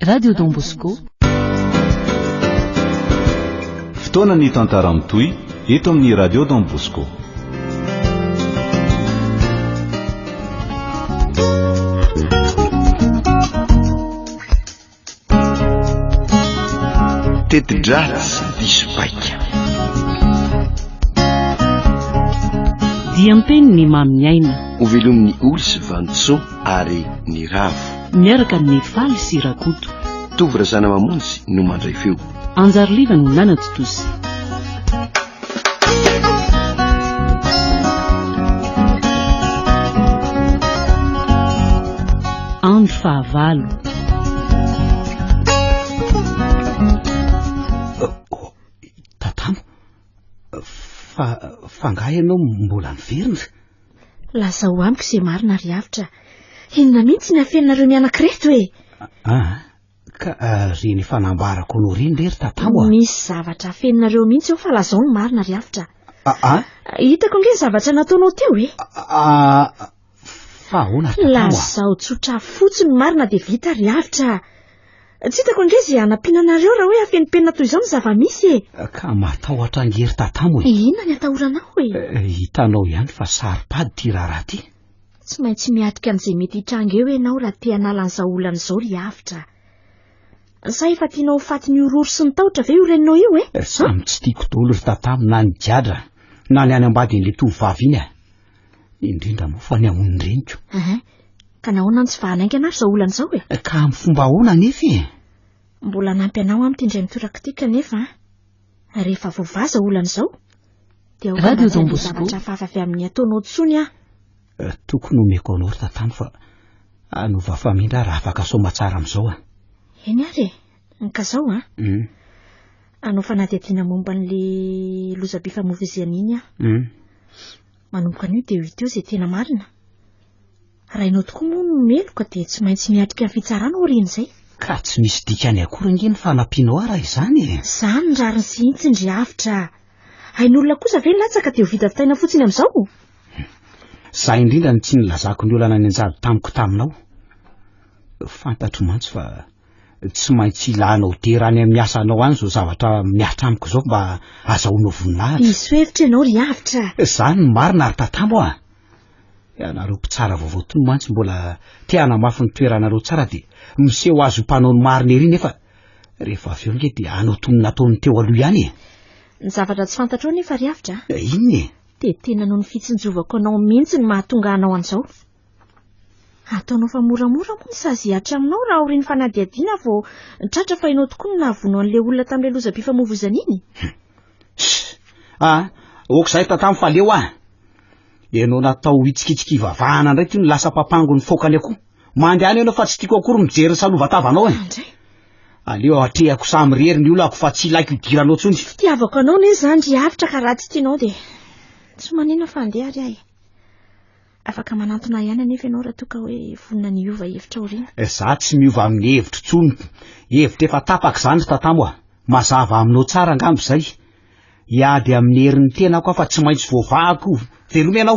Radio Don Bosco. Fotoana ny tantara mitohy eto amin'ny Radio Don Bosco. Teti-dratsy diso paika. Diam-peniny mamin'ny aina. Ho velomin'ny oly sy vantso. ary ny ravo. Miaraka amin'ny faly sy rakoto. Tovo razana mamonjy no mandray feo. Anjary liva no nanatitosy. andro fahavalo tatamo fa fa ngaha ianao mbola miverina Lazao amiko izay marina ry Avotra. Inona mihitsy ny afeninareo mianak'ireto e? Ah, ka ah, ry ny fanambarako no ry ry tatao ah. Misy zavatra afeninareo mihitsy eo fa lazao ny marina ry Avotra. Ah, ah. Hitako nge ny zavatra nataonao teo e? Ah, fa ahoana tatao ah? Lazao tsotra fotsiny marina dia vita ry Avotra. Tsy hitako indray izay hanampiana anareo raha hoe afenimpenina toy izao ny zava-misy e! Ka matahotra angery tatamo e! Inona ny atahoranao e? Eh, hitanao ihany fa saro-pady ity raharaha ity. Tsy maintsy miatrika an'izay mety hitranga eo ianao raha te hanala an'izao olana izao ry Avotra. Sa efa tianao ho fatin'ny horohoro sy ny tahotra ve io reninao io e? Eh? Samy tsy tiako daholo ry tatamo na ny gadra na ny any ambadin'ilay tovovavy iny a! indrindra moa fa ny amon'ny reniko ehe ka nahoana no tsy vahanaingana ary izao olana izao e eh, ka amin'ny fomba ahoana anefa e mbola nampy anao amin'ity indray mitoraka ity kanefa rehefa voavaza olana izao dia radio don bosco hafahafa avy amin'ny ataonao tsony aho eh, tokony omeko anao ry tatano fa anova famindra raha afaka soma tsara amin'izao a eny ary e Ka zao an, hanao fanadihadiana momba an'le lozam-pifamoivoizihana iny aho. Manomboka anio dia ho hita eo izay tena marina. Raha ianao tokoa moa no meloka dia tsy maintsy miatrika ny fitsarana aorian'izay. Ka tsy misy dikany akory ange ny fanampianao ahy raha izany e! Izany ny rariny sy hintsiny ry Avotra. Hain'olona kosa ve ny latsaka dia ho vita vitaina fotsiny amin'izao? Zay indrindra no tsy nilazako ny olana nianjady tamiko taminao. Fantatro mantsy fa. tsy maintsy ilanao dera any amin'ny asanao any izao zavatra mihatra amiko izao mba azahoanao voninahitra. Diso hevitra ianao ry Avitra. Izany no marina ry Tatamo a! Ianareo mpitsara vaovao tony mantsy mbola te hanamafy ny toeranareo tsara dia miseho azy ho mpanao ny marina ery nefa rehefa avy eo ange dia hanao toy ny nataon'ny teo aloha ihany e! Ny zavatra tsy fantatrao anefa ry Avitra a! Inona e? Dia tena noho ny fitsinjovako anao mihitsy no mahatonga anao an'izao. Ataonao fa moramora moa ny sazy hihatra aminao raha aorian'ny fanadihadiana vao tratra fa ianao tokoa no nahavono an'ilay olona tamin'ilay lozam-pifamoivozana iny? Ah, ok zahay tantamo fa leo ah. Ianao natao ho hitsikitsiky hivavahana indray ty no lasa papango ny fokany akoho. Mandehana ianao fa tsy tiako akory mijery ny salovatavanao eh. Andray. Aleo hatrehako samy rery ny olako fa tsy ilaiko idiranao tsony. Tsy fitiavako anao ne zany ry Avitra ka raha tsy tianao dia tsy manina fa andeha ary ahy. Afaka manantona ahy ihany anefa ianao raha toa ka hoe vonona ny hiova hevitra aoriana. Eh, za tsy miova amin'ny hevitro tsony. Hevitra efa tapaka izany ry tatamo a. Mazava aminao tsara angamba izay. Hiady amin'ny herin'ny tenako aho fa tsy maintsy voavahako. Veloma ianao.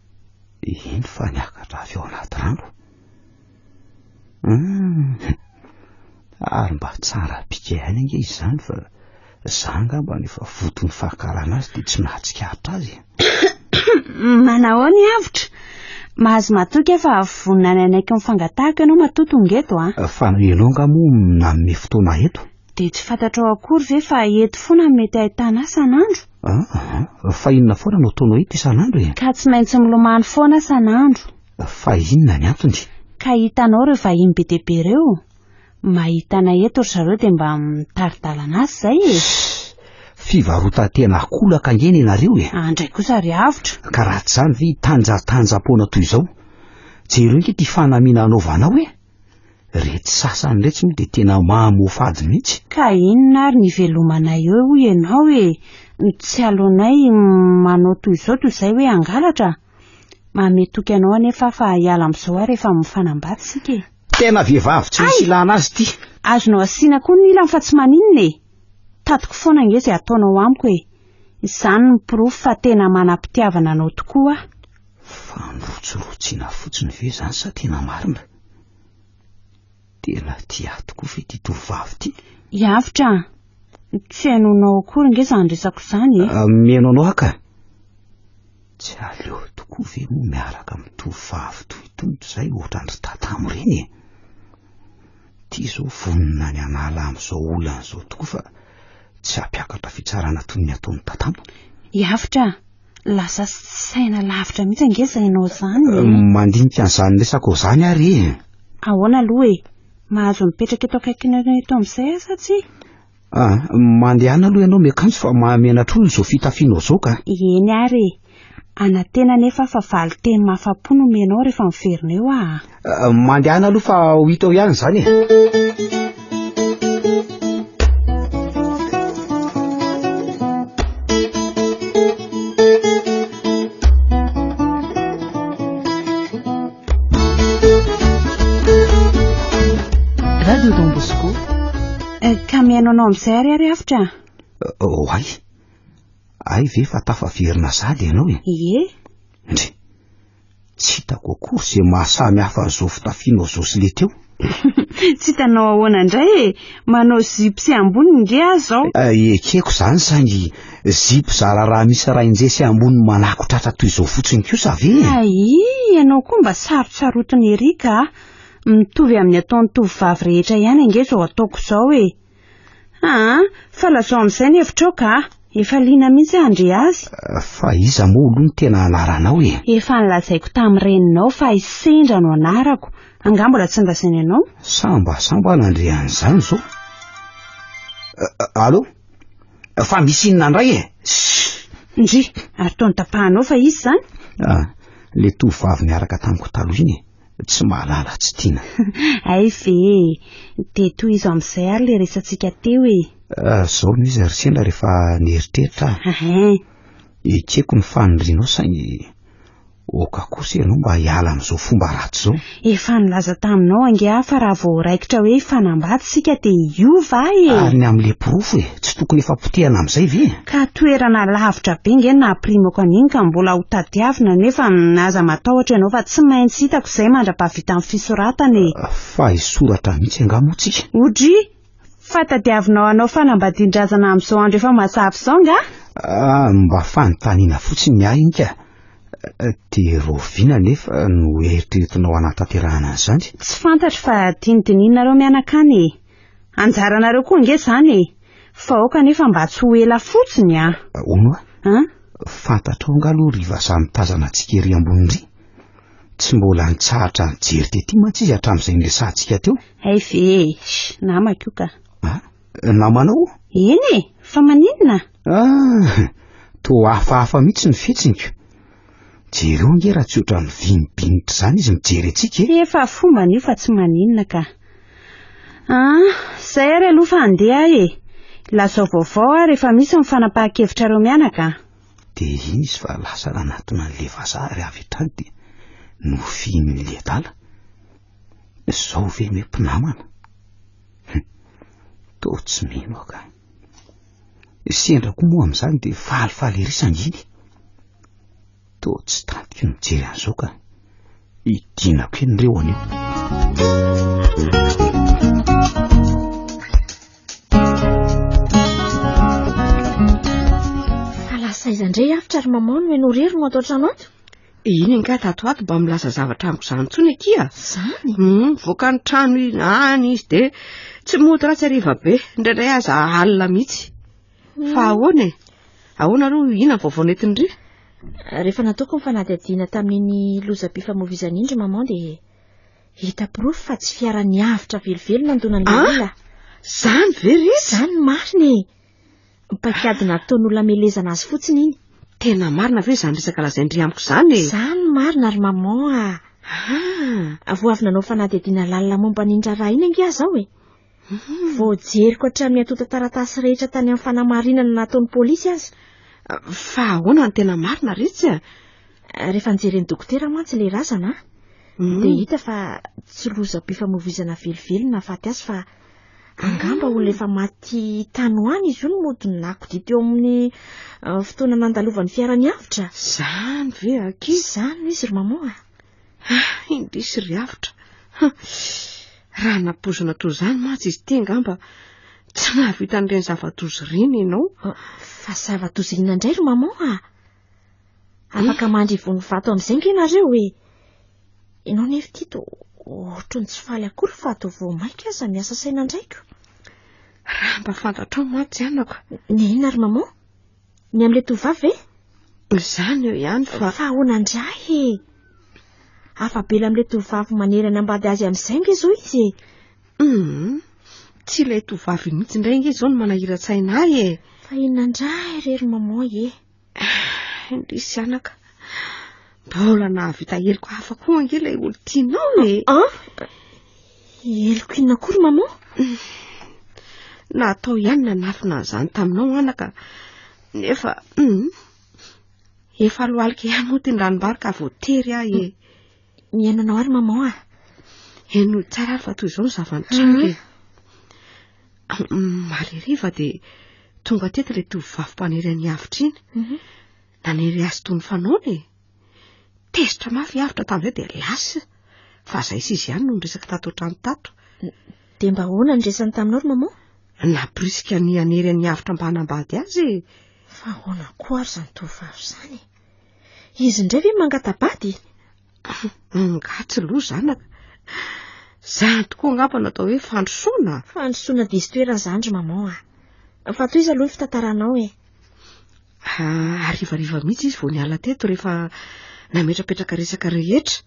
Eny fa niakatra avy ao anaty rano. Hmm. Ary mba tsara bika ihany ange izany fa za angamba no efa voton'ny fahakarana azy dia tsy nahatsikaritra azy. Manao ny avotra. Mahazo matoky fa vonona ny anaiky ny fangatahako ianao matoa tonga eto a. Ah. Fa ianao nga moa nanome fotoana eto? Dia tsy fantatrao akory ve fa eto foana no mety ahitana ahy san'andro? Ah, fa inona foana no toa no hita isan'andro e? Ka tsy maintsy milomano foana aho san'andro. Fa inona ny antony? Ka hitanao ireo vahiny be dia be ireo? Mahita anay eto ry zareo dia mba mitari-dalana azy izay e! Fivarotan-tena akolaka ange ny anareo e! Andray kosa ry avotra! Ka raha tsy izany ve hitanjatanjam-poana toy izao? Jereo ange ity fanamiana anaovanao e! Retsy sasany retsy moa dia tena mahamofady mihitsy. Ka inona ary ny ivelomanay eo hoy ianao e, ny tsy aleonay manao toy izao toy izay hoe hangalatra? Manome toky anao anefa aho fa hiala amin'izao ary efa mifanambady isika e. Tena vehivavy tsy misy ilana azy ity. Azonao asiana koa ny ilany fa tsy maninona e! Tatiko foana ange izay ataonao amiko e! Izany no porofo fa tena manam-pitiavana anao tokoa aho. Fa nirotsirotsiana fotsiny ve izany sa tena marina? Tena tia ahy tokoa ve ity tovovavy ity? I Avotra a! Tsy hainao nao akory nge izany resako izany e! Miheno anao aho ka! Tsy aleo tokoa ve moa miaraka amin'ny tovovavy toy itony izay ohatran-dry tatamo ireny e! Ity izao vonona ny hanala amin'izao olana izao tokoa fa tsy hampiakatra fitsarana toy ny ataon'i tatamo. I Avotra a! Lasa saina lavitra mihitsy ange izay ianao izany. Eh? Mandinika an'izany resako izany ary e. Ahoana aloha e? Mahazo mipetraka eto akaikinareo eto amin'izay aza tsy? Ah, mandehana aloha ianao miakanjo fa mahamenatr'olona izao fitafianao izao ka. Eny ary e. Anatena nefa fa valin-teny mahafapo no menao rehefa miverina eo ah. Mandehana aloha fa ho hita eo ihany izany e. mihaino anao amin'izay ary ary afitra oh ay ay ve fa tafaverina sady ianao e eh? ye ndry Tsy hitako akory izay mahasamy hafa an'izao fitafianao izao sy le teo. Tsy hitanao ahoana indray e, manao zipo sy ambony nge aho izao. Eh, ekeko izany saingy zipo zara raha misy rainje sy ambony manako tratra toy izao fotsiny kosa ve e? Aii, ianao koa mba sarotsarotin'i Eric a! Mitovy amin'ny ataon'ny tovovavy rehetra ihany ange izao ataoko izao e! Aa! fa lazao amin'izay ny hevitrao ka a! efa liana mihitsy aho handre azy. Fa iza moa aloha no tena anaranao e? Efa nolazaiko tamin'ny reninao fa i Sendra no anarako, angaha mbola tsy nolazainy anao? Samba samba nandre an'izany izao. Allo? Fa misy inona indray e? Ndry, ary toa notapahanao fa iza izany? Ah, le tovovavy niaraka tamiko taloha iny e. tsy mahalala tsy tiana. Hay ve e, dia tohizo amin'izay ary le resatsika teo e. Ah, zao no izy ry sendra rehefa nieritreritra aho. Ekeko ny fanirianao saingy oka kosa ianao mba hiala amin'izao fomba ratsy izao. Efa nilaza taminao ange aho fa raha vao raikitra hoe hifanambady isika dia hiova aho e. Ary ny amin'le porofo e. tsy tokony efa potehana amin'izay ve? Ka toerana lavitra be nge nahapirimako an'iny ka mbola ho tadiavina nefa aza matahotra ianao fa tsy maintsy hitako izay mandra-pahavitan'ny fisoratana e! Fa hisoratra mihitsy angaha moa tsika? Odry! Fa tadiavinao hanao fanambadian-drazana amin'izao andro efa mazava izao angaha? Ah, mba fanontaniana fotsiny ny ahy ika! Dia rahoviana anefa no eritreretinao hanatanterahana an'izany? Tsy fantatro fa tiany dinihinareo mianakana e! Anjaranareo koa ange izany e! Fa aoka anefa mba tsy ho ela fotsiny an! Hono a! An? Fantatrao angaha aloha ry vazaha mitazana antsika ery ambony iry? Tsy mbola nitsahatra nijery tety mantsy izy hatramin'izay niresahantsika teo. Hay ve e! Shh! Namako io ka! Ah? Namanao? Eny e! Fa maninona? Ah! Toa hafahafa mihitsy ny fihetsiniko. Jereo ange raha tsy ohatran'ny vinibinitra izany izy mijery antsika e! Efa fombany io fa tsy maninona ka. Ah, izay ary aloha fa handeha aho e! Lazao vaovao aho rehefa misy ny fanapahan-kevitrareo mianaka an! Dia iny izy fa lasa nanatona an'ilay vazaha ary avy hatrany dia nofihin'ilay adala. Izao ve no hoe mpinamana? Toa tsy mino aho ka. Sendra koa moa amin'izany dia falifaly ery sanginy. Toa tsy tantiko ny mijery an'izao ka. Idinako eny reo anio. Fa lasa iza indray afitra ry maman no ianao rery no ato an-trano ato? Eh, iny angaha tato ato mba milaza zavatra amiko izany intsony akia. Izany? Hmm, voaka ny trano iny any izy dia tsy mody ratsy hariva be, indraindray aza alina mihitsy. Fa ahoana e? Ahoana aloha, inona ny vaovao nentin-dry? Rehefa nataoko ny fanadihadiana tamin'iny lozam-pifamoivoizana iny ry maman dia hita porofo fa tsy fiara niavitra velively nandonan'ilay Ah! olona. Zany ve ry izy? Izany ny marina e! Ny paikady nataon'olona hamelezana azy fotsiny iny. Tena marina ve izany resaka lazain-dry amiko izany e? Izany ny marina ry maman ah! Ah! Vao avy nanao fanadihadiana lalina momba an'iny raharaha iny ange aho izao e! Voajeriko hatramin'ny antontan-taratasy rehetra tany amin'ny fanamarinana nataon'ny polisy aza. Fa ahoana no tena marina re tsy a? Rehefa nijeren'ny dokotera mantsy ilay razana, hmm. dia hita fa tsy lozam-pifamoivoizana velively nahafaty azy fa angamba olona efa maty tany ho any izy io no mody nakodia teo amin'ny eh, fotoana nandalovan'ny fiara niavotra. Izany ve ankizy izany izy ry mamoa? Ah, indrisy ry avotra. Raha napoizina toy izany mantsy izy ity angamba tsy nahavita an'ireny zava-doza ireny ianao. Ah, fa zava-doza inona indray ry maman ah? Afaka eh. mandry ivon'ny vato amin'izay ve ianareo e? Ianao nefa ity to ohatry ny tsy faly akory fa to vao mainka aza miasa saina andraiko. Raha mba fantatrao mantsy anako. Ny inona ry maman? Ny amin'ilay tovovavy ve? Izany eo ihany fa... Fa ahoana indray e? Afabela amin'ilay tovovavy manery anambady azy amin'izay nge izao izy e. Hum, tsy ilay tovovavy mihitsy indray nge izao no manahiran-tsaina ahy e. Fa inona indray irery maman e? Indrisy anaka. Mbola nahavita heloka hafa koa ange ilay olon-tianao e. Ah? Heloko inona koa ry maman? Natao ihany nanafina an'izany taminao anaka. Nefa hmm, efa lohalika ihany moa ity ny ranom-bary ka voatery ahy e. Mihaino anao ary maman ah. Heno tsara ary fa toy izao ny zava-nitranga e. Marihariva dia tonga teto ilay tovovavy mpanery an'i Avitra iny. Mhm. Nanery azy toy ny fanaony e. Tezitra mafy avotra tamin'izay dia lasa. Fa izay sy izy ihany no niresaka tato an-trano tato. Dia mba ahoana ny resany taminao ry maman? Nampirisika ny hanery an'i avotra mba hanambady azy e. Fa ahoana koa ary izany tovovavy izany e? Izy indray ve mangata-bady? Angaha tsy loha zanaka. Zany tokoa angamba no atao hoe fandrosoana. Fandrosoana diso toerana zany ry maman a. Ah. Fa toy izy aloha ny fitantaranao e. Ah, arivariva mihitsy izy vao niala teto rehefa nametrapetraka resaka rehetra.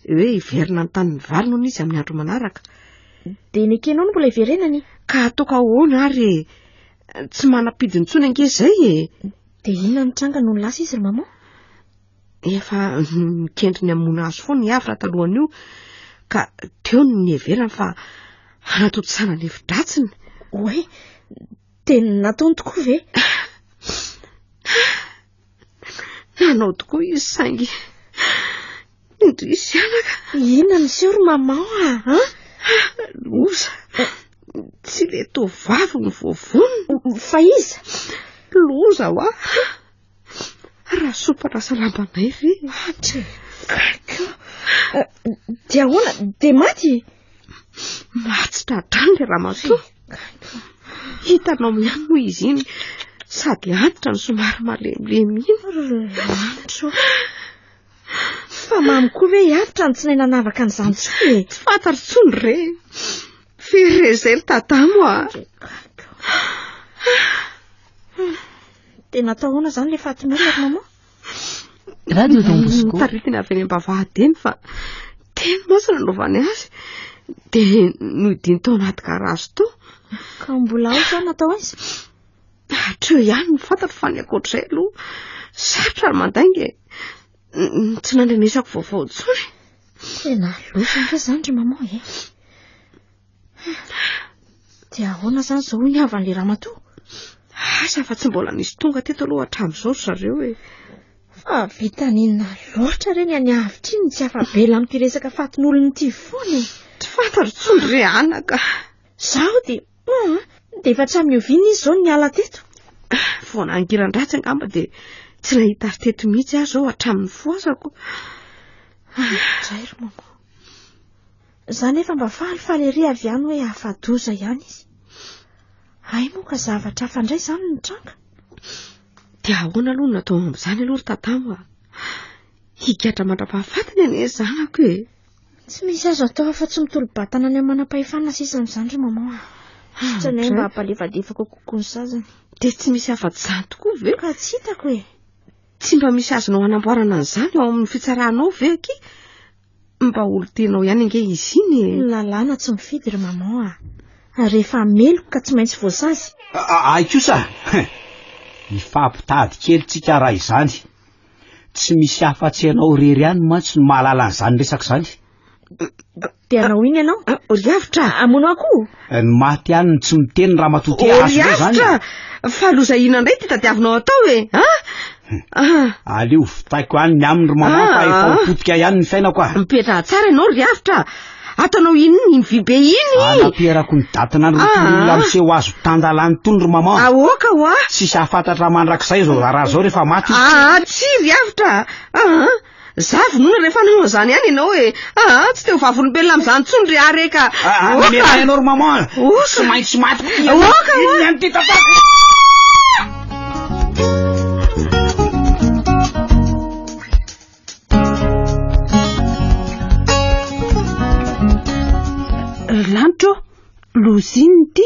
Hoe hiverina ny tanin'ny vary noho izy amin'ny andro manaraka. Dia nekenao no mbola hiverenany? Ka ataoko ahoana ary e. Tsy manam-pidintsony ange izay e. Dia inona ny tranga noho ny lasa izy ry maman? Efa nikendry ny hamono azy foana i Havra talohan'io ka teo ny niheverany fa hanatontosana ny hevi-dratsiny. Oay, tena nataony tokoa ve? Nanao tokoa izy saingy indrisy anaka. Inona ny seho ry mamao ah? ah? Loza. Eh. Tsy le tovavy ny voavonina. Fa iza? Loza wa. Raha sopa na salambanay ve? Maty. Dia ahoana? Dia maty? Matsitra hatrany ilay ramatoa. Hitanao ihany moa izy iny sady antitra ny somary malemilemy iny. Antitra. Fa mamy koa ve antitra ny tsy nay nanavaka an'izany tsoa e? Tsy fantatro tsoa ny re. Firy re izay ry tadamo ah. Dia natao ahoana izany ilay fatin'olona ry mama? Radio Don Bosco. Taritina avy any am-bavahadiny fa tena moa sy nanaovany azy dia nodiny tao anaty garazy tao. Ka mbola ao izany natao aiza? Hatreo ihany ny fantatro fa ny ankoatr'izay aloha sarotra ny mandainga e. Tsy nandrenesako vaovao intsony. Tena loza ve izany ry mama e? Dia ahoana izany izao hoy ny havan'ilay ramatoa? Asa fa tsy mbola nisy tonga teto aloha hatramin'izao ry zareo e. Fa vitan'inona loatra re ny any avitra iny tsy afa-bela amin'ity resaka fatin'olona ity foana e. Tsy fantaro intsony re Ana ka. Zaho dia ah, dia efa tsy amin'ny oviana izy izao niala teto. Ah, vao nangiran-dratsy angamba dia tsy nahita azy teto mihitsy aho izao hatramin'ny fohazako. Ah, zay ry maman. Za nefa mba faly faly ery avy any hoe afa-doza ihany izy. Hay moa ka zavatra hafa indray izany no nitranga. Dia ahoana aloha no natao amin'izany aloha ry tatamo a? Higadra mandra-pahafatiny anie ny zanako e. Tsy misy azo atao afa-tsy mitolo-batana any amin'ny manam-pahefana sisa amin'izany ry maman a. Sisa anay mba hampalefadefaka kokoa ny sazany. Dia tsy misy afa-tsy izany tokoa ve? Ka tsy hitako e. Tsy mba misy azonao hanamboarana an'izany ao amin'ny fitsaranao ve aky? Mba olon-tenao ihany ange izy iny e. Ny lalàna tsy mifidy ry maman a. Rehefa meloka ka tsy maintsy voasazy. Ay kosa! Hifampitady kely tsika raha izany. Tsy misy afa-tsy ianao irery ihany mantsy no mahalala an'izany resaka izany. Dia hanao iny ianao? Ah, ah, Oriavitra! Ah, hamono akoho? Eh, ny maty ihany no tsy miteny ramatoa ty azy izany. Oriavitra! Fa loza inona indray ty tadiavinao atao e? Eh? Ah? Hmm. Aleo vitaiko any ny aminy ry maman fa efa mipotika ihany ny fiainako ah. Mipetraha tsara ianao Oriavitra. Ataonao iny ny vy be iny. Anampiarako ny datina ny olona miseho azo tandalany tony ry maman. Aoka wa. Tsisy afantatra mandrakizay zao raha zao rehefa maty. Ah, tsy Oriavitra. Ah. Za vonoina rehefa hanao an'izany ihany ianao e! Aa! Tsy te ho vavolombelona amin'izany intsony ry Ary e ka! Aa! Mamerà ianao ry maman a! Oka! Tsy maintsy maty koa ianao! Oka! Oka! Inona ihany ity tantara? Ry lanitra ô! Lozina ity!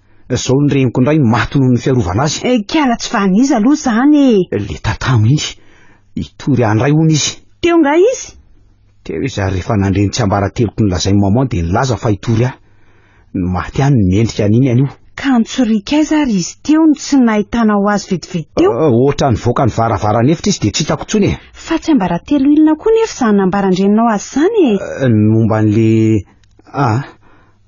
Zao ny reniko indray maty noho ny fiarovana azy. Eh, kiala tsy van'iza aloha izany e! Le tatamo iny. Hitory ahy indray hono izy. Teo nga izy? Teo izy ary rehefa nandre ny tsiambarateloko nolazain'i maman dia nilaza fa hitory ahy. Ny maty ihany no mendrika an'iny anio. Ka nitsoriaka aiza ary izy teo no tsy nahitanao azy vetivety teo? Ah, ohatra nivoaka ny varavaran'efitra izy dia tsy hitako intsony e! Fa tsiambaratelo inona koa nefa izany nambaran-dreninao azy izany e? Ah, ny momba an'le... ah,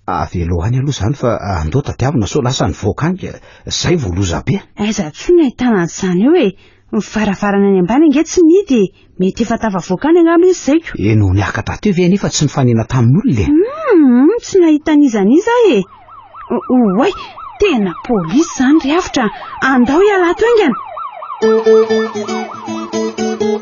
Avelo any aloha izany fa andao tadiavina sao lasa ny volcanic, izay vao loza be an! Aiza atsy no ahitana an'izany eo e! Ny varavarana any ambany ange tsy mihidy e! Mety efa tafavoaka any angamba izy izay ko! Eny ho niaka taty io ve anefa tsy nifanena tamin'olona e! Hum! Tsy nahita an'iza an'iza aho e! Oay! Tena polisy izany ry avotra an! Andao hiala ato haingana!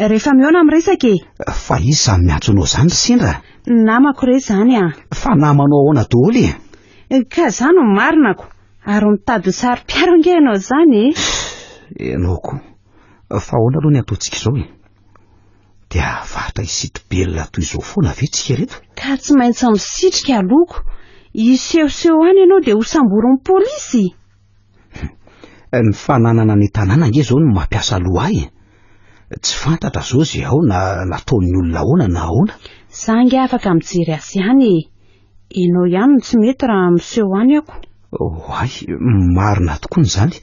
Rehefa mihaona amin'ny resaka e. Fa izy samy miantso anao izany ry sendra. Namako re izany a. Fa namanao ahoana daholo e. Ka za no marinako. Ary mitady ho saro-piaro ange ianao izany e. Ianao koa. Fa ahoana aloha ny ataontsika izao e. Dia hahavatra hisitobelona toy izao foana ve tsika reto? Ka tsy maintsy misitrika aloko. Hisehoseho any ianao dia hosamborin'ny polisy. Eh, ny fananana ny tanàna nge zao no mampiasa loha ahy eh. Tsy fantatra zao ze ao na nataon'ny olona ahoana na ahoana. Za nge afaka mijery azy ihany e. Enao ihany no tsy mety raha miseho any ako. Oay, marina tokoa ny zany.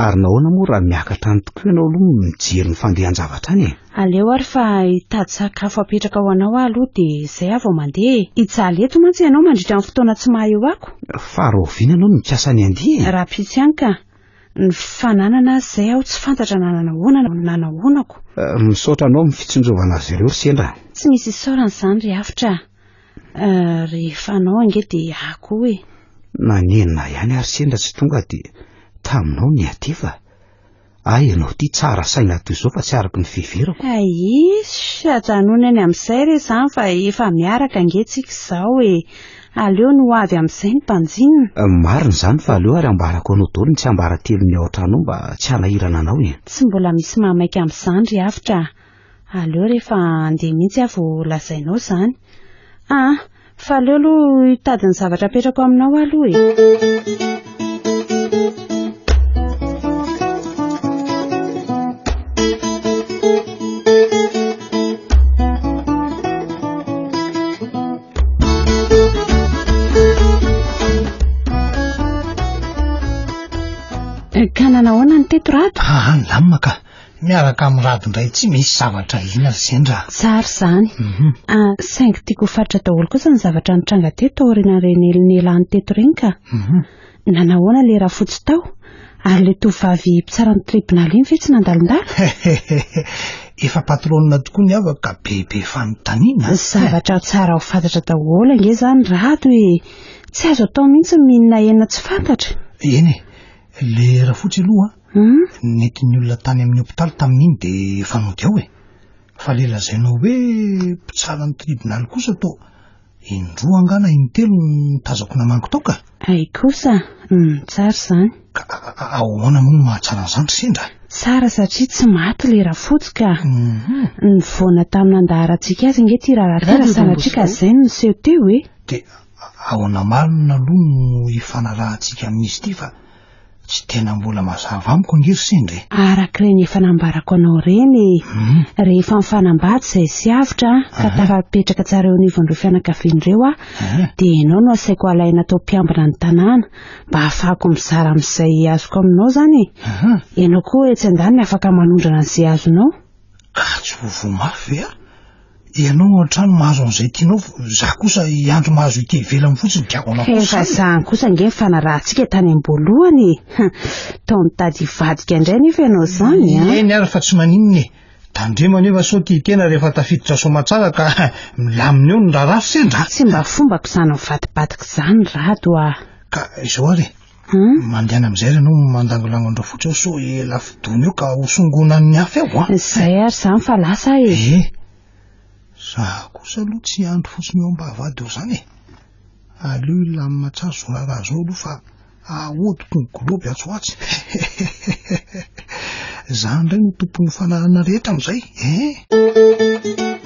Ary nahoana moa raha miakatra any tokoa ianao aloha mijery ny fandehan-javatra any e? Aleo ary fa hitady sakafo hapetraka ho anao aho aloha dia izay aho vao mandeha e! Hijaly eto mantsy ianao mandritra ny fotoana tsy maha eo ako. Fa rahoviana no nikasa ny handeha e? Rahampitso ihany ka! Ny fananana azy izay aho tsy fantatra na nanao ahoana na nanao ahoana ko! Misaotra anao amin'ny fitsinjovana azy ireo ry sendra a! Tsy misy isaorana izany ry Hafitra a! Rehefa anao ange dia ahy koa e! Na nenina ahy ihany ary sendra tsy tonga dia taminao nihatefa! Hay ianao ity tsara saina hatry izao fa tsy araka ny fiheverako. Aisy, ajanony any amin'izay re izany fa efa miaraka ange tsika izao e. Aleo ny ho avy amin'izay no mpanjinina. Marina izany fa aleo ary ambarako anao daholo ny tsiambaratelon'ny ao an-trano ao mba tsy hanahirana anao e. Tsy mbola misy maha maika amin'izany ry Avotra a. Aleo rehefa handeha mihitsy aho vao lazainao izany. Aa, fa aleo aloha hitady ny zavatra apetrako aminao aho aloha e. Ka nanao ahoana ny teto Rado? Aa, nilamina ka. Miaraka amin'ny rad indray tsy misy zavatra ina ry zendra a! Tsara izany. A, saingy tiako ho faritra daholo kosa ny zavatra nitranga teto taorian'ireny helo nialany teto ireny ka. Nanahoana ilay rafotsy tao? Ary ilay tovovavy mpitsara ny tribonaly iny ve tsy nandalondalo? Hehehehe! Efa patronina tokoa ny havako ka be be fanontaniana a! Zavatra tsara ho fantatra daholo ange izany rado e! Tsy azo atao mihitsy ny mihinana hena tsy fantatra. Eny e! Ilay rafotsy aloha Humm. Ny nentin'ny olona tany amin'ny hopitaly tamin'iny dia efa nody ao e. Fa ilay lazainao hoe mpitsara ny tribonaly kosa toa in-droa angaha na in-telo no nitazako namangy tao ka. Hay kosa, humm tsara izany. Ka ahoana moa no mahatsara an'izany ry sendra? Tsara satria tsy maty ilay rafotsy ka. Humm. Nivoana tamin'ny nandaharantsika azy ange ity raharaha ity raha sanatria ka izay no niseho teo e. Dia ahoana marina aloha no hifanarahantsika amin'izy ity fa Tsy tena mbola mazava amiko ange ry sendra e. Arak'ireny efa nambarako anao ireny e. Mhm. Rehefa mifanambady izay sy avotra ka Aha. tafapetraka tsara eo anivon'ireo fianakaviana ireo aho Aha. dia ianao no asaiko alaina atao mpiambina ny tanàna mba hahafahako mizara amin'izay azoko aminao izany e. Aha. Ianao koa etsy andaniny afaka manondrana an'izay azonao. Ka tsy ho voa mafy ve aho? Ianao ao an-trano mahazo an'izay tianao, izaho kosa hiandry mahazo ity ivelany fotsiny, gago anao fotsiny. Tena vazaha kosa ange ny fanarahantsika tany am-boalohany e! Tao mitady hivadika indray anefa ianao izany an! Eny ary fa tsy maninona e! Tandremo anefa sao tia tena rehefa tafiditra soamantsara ka milamina eo ny raharaha, sendra! Tsy mba fombako izany mivadibadika izany Rado ah! Ka izao ary e! Hmm? Mandehana amizay re anao mandangolango andreo fotsy ao so e lafidony eo ka ho songonan'ny hafa eo a zay ary zany fa lasa e e za kosa aloha tsy andro fotsiny eo ambavady eo zany e aleo ilany matsary zo raharaha zao aloha fa ahodiko ny globy atsy hoatsy zany indray no tompon'ny fanahana rehetra amizay e eh?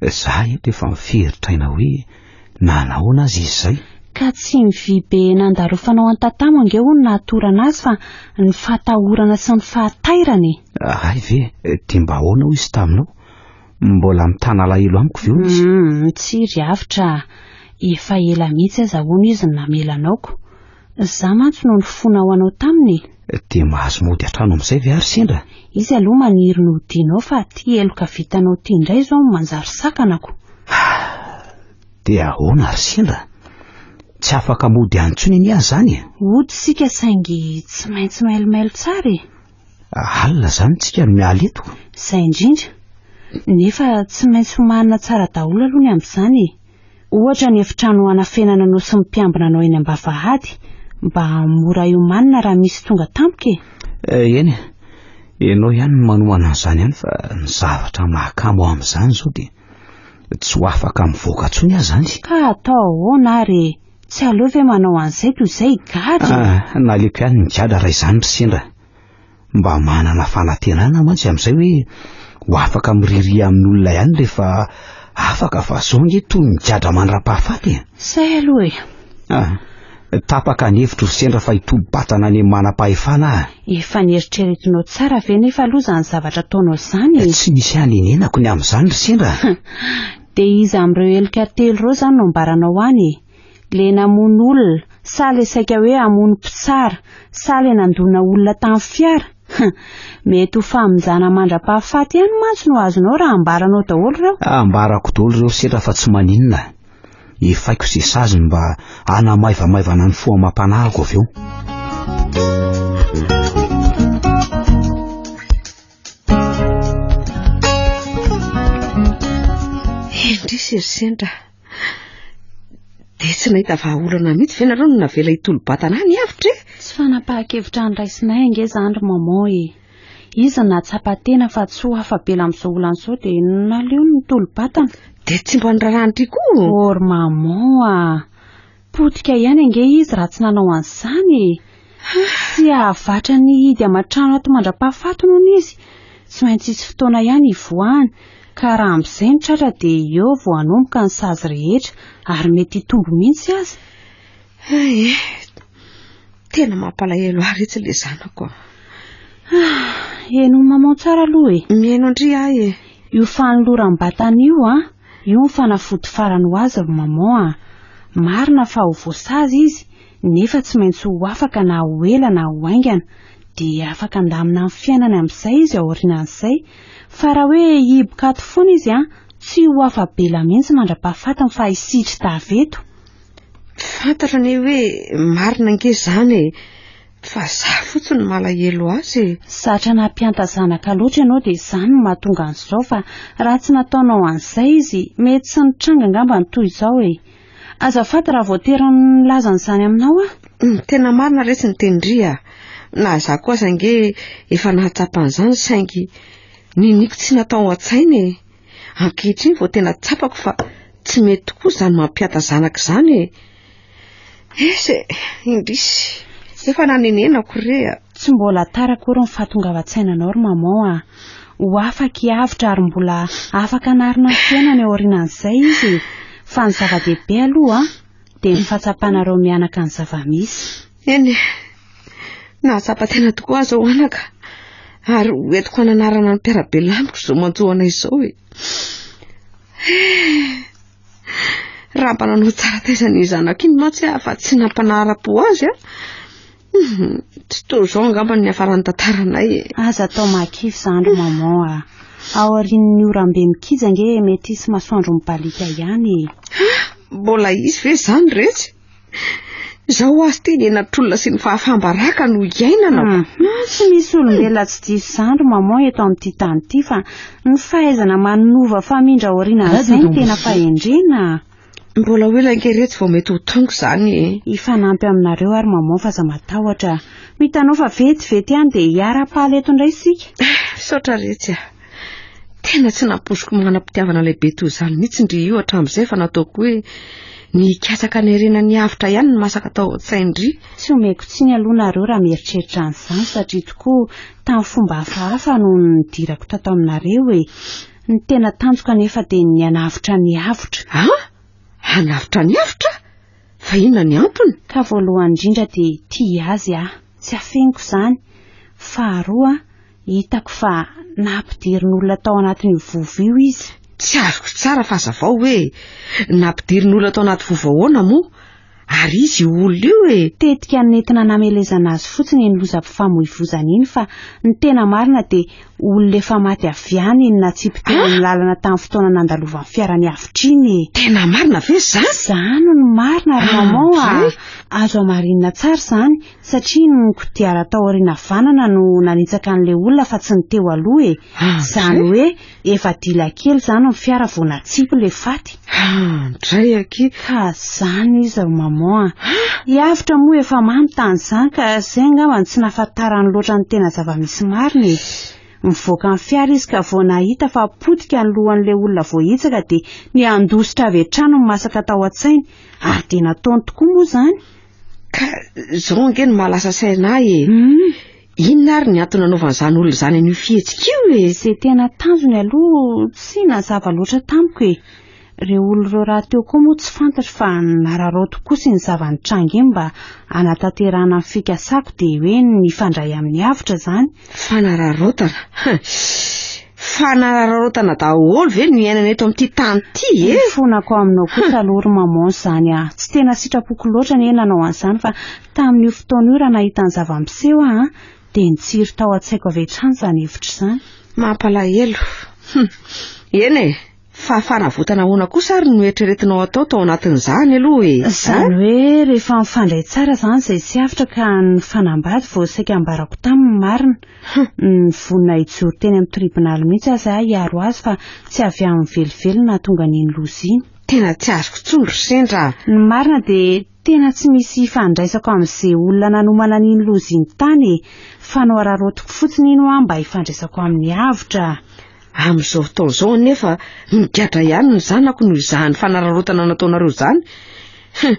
Za eto efa miferitra aina hoe nanahoana azy izy zay. Ka tsy ny vy be nandarofanao an'i tatamo ange hono nahatorana azy fa ny fahatahorana sy ny fahatairana e. Ahay ve dia mba ahoana hoy izy taminao? Mbola mitana alahelo amiko ve hono izy? Hum, tsy ry avotra, efa ela mihitsy aza hono izy no namela anao ko. Za mantsy no nifona ho anao taminy e! Dia mahazo mody hatrano amin'izay ve ary sendra? Izy aloha maniry ny hodianao fa ty heloka vitanao ty indray izao no manjary sakanako. Dia ahoana ary sendra? Tsy afaka mody any intsony anie aho izany e! Hody isika saingy tsy maintsy mailomailo tsara e! Alina zany tsika no miala eto. Zay indrindra. Nefa tsy maintsy homanina tsara daholo aloha ny amin'izany e. Ohatra ny efitrano hanafenana anao sy ny mpiambina anao eny ambavahady mba mora iomanina raha misy tonga tampoka e. Eh, eny e. Ianao ihany no manomana an'izany ihany fa ny zavatra mahakamo ahy amin'izany izao dia tsy ho afaka mivoaka intsony aho izany. Ka atao ahoana ary e. Tsy aleo ve manao an'izay toy izay i Gadra? Ah, naleoko ihany ny Gadra raha izany ry sendra. Mba manana fanantenana mantsy amin'izay hoe ho afaka miriria amin'olona ihany rehefa afaka fa izao ange toy ny Gadra mandra-pahafaty e. Izay aloha e. Ah, tapaka ny hevitro ry sendra fa hitobo-batana any amin'ny manam-pahefana aho. Efa nieritreretinao tsara ve nefa aloha izany zavatra ataonao izany e? Tsy misy hanenenako ny amin'izany ry sendra. Dia iza amin'ireo heloka telo ireo izany no ambaranao any e? Ilay namono olona, sa ilay saika hoe hamono mpitsara, sa ilay nandona olona tamin'ny fiara? Hum, mety ho famonjana mandra-pahafaty ihany mantsy no azonao raha ambaranao daholo ireo. Ah, ambarako daholo ireo sendra fa tsy maninona a! Efaiko izay sazy mba hanamaivamaivana ny fo amam-panahiko avy eo. Indrisy ry sendra. Dia tsy nahita vahaolana mihitsy ve nareo no navela hitolo-batana any avitra e? Tsy fanapahan-kevitra andraisinay ange izany ry maman e. Izy nahatsapa tena fa tsy ho afa-bela amin'izao olana izao dia naleo nitolo-batana. Dia tsy mba niraharahan-dry koa? Ô ry maman a! Potika ihany ange izy raha tsy nanao an'izany e! Tsy hahavatra ny hihidy aman-trano ato mandra-pahafatiny hono izy, tsy maintsy hisy fotoana ihany hivoahany, ka raha amin'izay no tratra dia eo vao hanomboka ny sazy rehetra, ary mety hitombo mihitsy aza. Hay e! Tena mampalahelo ahy retsy ilay zanako a! Ah! Henon'i Maman tsara aloha e! Mihaino an-dry ahy e! Io fanoloram-batana io an! Io no fanafody farany ho azy ry maman a! Marina fa ho voasazy izy nefa tsy maintsy ho afaka na ho ela na ho haingana, dia afaka handamina ny fiainany amin'izay izy aorianan'izay, fa raha hoe hihiboka ato foana izy an! tsy ho afa-bela mihitsy mandra-pahafatiny fa hisitrita avy eto. Tsy fantatra anie hoe marina ange izany e! Fa za fotsiny no malahelo azy e! Zatra nampianta zanaka loatra ianao dia izany no mahatonga an'izao fa raha tsy nataonao an'izay izy mety tsy nitranga angamba ny toy izao e! Azafady raha voatery nilaza an'izany aminao aho. Humm tena marina resy ny tenin-dry a! Na za koa aza ange efa nahatsapa an'izany saingy niniako tsy natao an-tsaina e! Ankehitriny vao tena tsapako fa tsy mety tokoa izany mampiata zanaka izany e. Ese, eh, indrisy, efa nanenenako re a. Tsy mbola tara akory ny fahatongavan-tsainanao ry maman a. Ho afaka hiavotra ary mbola afaka hanarina ny fiainany ao aorianan'izay izy e. Fa ny zava-dehibe aloha dia ny fahatsapanareo mianaka ny zava-misy. Eny e, nahatsapa tena tokoa aza ho anaka ary ho entiko hananarana ny mpiarabelona amiko izao manjohana izao e. Eh, raha mba nanao tsara taiza ny zanako iny mantsy aho fa tsy nampanara-po azy a. Mhm, tsy toy izao angamba ny hafaran'ny tantaranay e. Aza atao makify zandry maman a. Ao aorian'ny orambe mikija nge mety hisy masoandro mibaliaka ihany e. Ah, mbola hisy ve izany retsy? Zao ho azy teny enatr'olona sy ny fahafambaraka no iainana. Hmm. Hmm, tsy misy olombelona tsy diso zandry maman eto amin'ity tany ity fa ny fahaizana manova famindra aoriana an'izay ny tena fahendrena. Mbola ho ela ange retsy vao mety ho tonga izany e. Hifanampy aminareo ary maman fa za matahotra. Ho hitanao fa vetivety ihany dia hiara-pahaly eto indray isika. Misaotra retsy a. Tena tsy nampoiziko manam-pitiavana lehibe toy izany mihitsy ndry io hatramin'izay fa nataoko hoe ny hikatsaka ny harena ny avotra ihany ny masaka tao an-tsain-dry. Tsy omeko tsiny aloha nareo raha mieritreritra an'izany satria tokoa tamin'ny fomba hafahafa no nidirako tato aminareo e. Ny tena tanjoko anefa dia ny hanavotra ny avotra. Ah! Hanavotra ny avotra? Fa inona ny antony? Ka voalohany indrindra dia tia azy aho, tsy afeniko izany. Faharoa, Hitako fa nampidirin'olona tao anatin'io vovo io izy. Tsy azoko tsara fa zavao hoe nampidirin'olona tao anaty vovo ahoana moa? Ary izy io olona io e! Tetika nentina namelezana azy fotsiny iny lozam-pifamoivozana iny fa ny tena marina dia olona efa maty avy any iny natsipy teo amin'ny lalana tamin'ny fotoana nandalovan'ny fiarany avotra iny e! Tena marina ve izany? Izany no marina ry maman a! Azo hamarinina tsara izany Satria ny kodiara tao aoriana havanana no nanitsaka an'ilay olona fa tsy ny teo aloha e. Izany hoe efa dila kely izany ny fiara vao natsipy ilay faty. Handray aky. Ka izany izy ry maman a. I Avotra moa efa mamy tany izany ka izay angamba no tsy nahafantarany loatra ny tena zava-misy marina e. Mivoaka ny fiara izy ka vao nahita fa potika ny lohan'ilay olona voahitsaka dia niandositra avy hatrany ny masaka tao an-tsainy. Ary dia nataony tokoa moa izany. Ka zao ange no mahalasa saina ahy e. Hmm. Inona ary ny antony nanaovan'izany olona izany an'io fihetsika io e? Izay tena tanjony aloha tsy nazava loatra tamiko e. Ireo olona ireo rahateo koa moa tsy fantatro fa nararaoty koa sy ny zava-nitranga iny mba hanatanterahana ny fikasako dia hoe nifandray amin'ny avotra izany Fanararaotana hein! Fanararaotana daholo ve no iainana eto amin'ity tany ity e! Ny fonako aminao kosa aloha ry maman izany a! Tsy tena sitrapoko loatra anie nanao an'izany fa tamin'io fotoana io raha nahita ny zava-miseho aho an! dia nitsiry tao an-tsaiko avy hatrany izany hevitra izany. Mampalahelo. Hum! Eny e! Fa fanavotana ahoana kosa ary no eritreretinao atao tao anatin'izany aloha e? Izany hoe rehefa mifandray tsara izany izay tsy avotra ka ny fanambady vao saika ambarako taminy ny marina. Nivonona hijoro teny amin'ny tribonaly mihitsy aza aho hiaro azy fa tsy avy aminy velively no nahatonga an'iny loza iny. Tena tsy azoko intsony ry sendra a! Ny marina dia tena tsy misy ifandraisako amin'izay olona nanomana an'iny loza iny tany e! Fanohararaotiko fotsiny iny hoa mba hifandraisako aminy avotra. Amin'izao fotoana izao anefa migadra ihany ny zanako noho izany fanararaotana nataonareo izany. Hum,